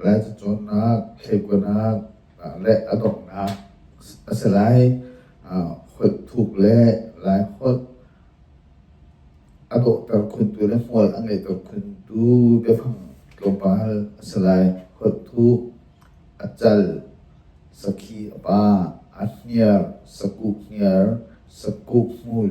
Lai cacawnnak, thleikuanak le a donghnak a si lai. Holh thuk le Lai holh a dawhter khuntu le hmual a ngeihter khuntu biafang tlawmpal a si lai. Holh thuh, a cal, sakhi a pah, a hniar, sakuh hniar, sakuk hmul.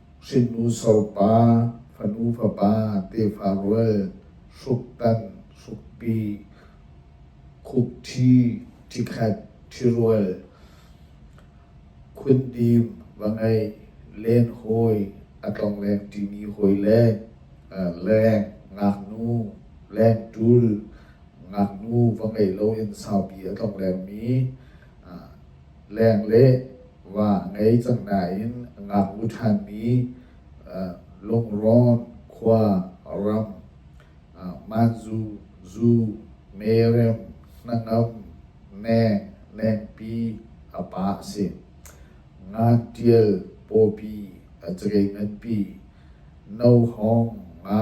hrinnu sopa, fanu fapa, tefa rual, hruktan, hrukpi, khukṭhi, ṭhikhat, ṭhirual, khundim, va ngeih, lenhawi, a tlongleng ṭimi hawi leng, leng, ngaknu, lengṭul, ngaknu va ngeih loin saupi a tlonglengmi, leng le va ngei cang nain a ngaknu ṭhanmi Lungrawn khua ram Manzu, Zu, Merem, Hnangam, Neng, Lengpi a pa a si. Ngan Ṭial pawpi a cakei nganpi, No Hong nga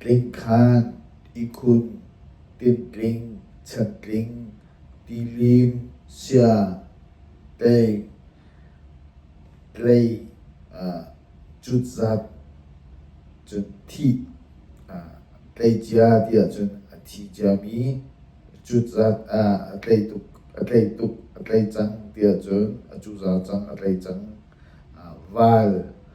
tling khan, ihkhun, tintling, chantling, tilim, sia, tei, tlei, cutzat, cun thit, tleicia ti ahcun a thi ciami, cutzat a tlei tuk, a tlei tuk, a tlei cang ti ahcun a cuza cang a tlei cang, val.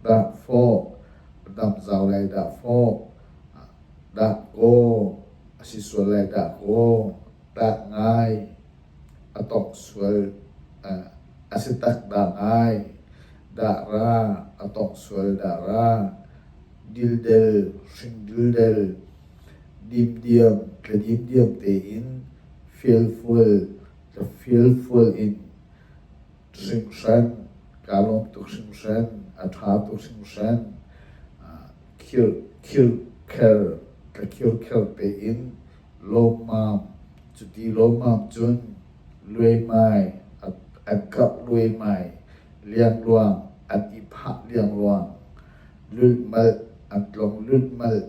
Dah fawh, damh zau lai dah fawh, dah kaw, a si sual lai dah kaw, dah ngai, a tongh sual, a si tak dah ngai, dah ra, a tongh sual dah ra, dildel, hring dildel, dimdiam, tladim diam tein, fialfual, tlafialfual in. hringhren kaa lawm tuk hringhren a ṭha tuk hringhren khir khir kher ka khir kher pe in lawmam cuti lawmam cun luaimai an karh luaimai liangluang an i phah liangluang lulhmalh an tlong lulhmalh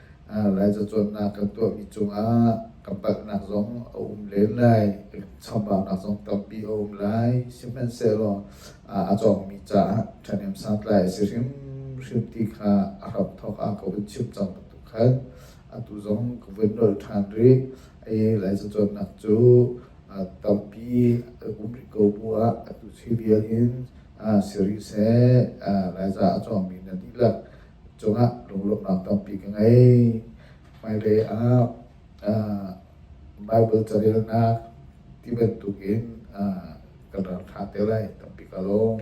Laizacuannak kan tuahmi cungah ka palhnak zong a um len lai. Chambaunak zong tampi a um lai. Sihmanhsehlaw a cawngmi caah ṭhahnem santlai a si hrimhrim ti kha a hram thawk ah ka vun chim cang bantuk khan atu zong ka vun nawl ṭhan rih. Hi laizacuannak cu tampi a um rih ko bu ah atu khi vial in si rih seh. Laiza a cawngmi na dihlak cungah lunglawmhnak tampi ka ngei. Hmailei ah uh, Bible carelnak ti bantukin uh, kan ralkha te lai tampi ka lawm.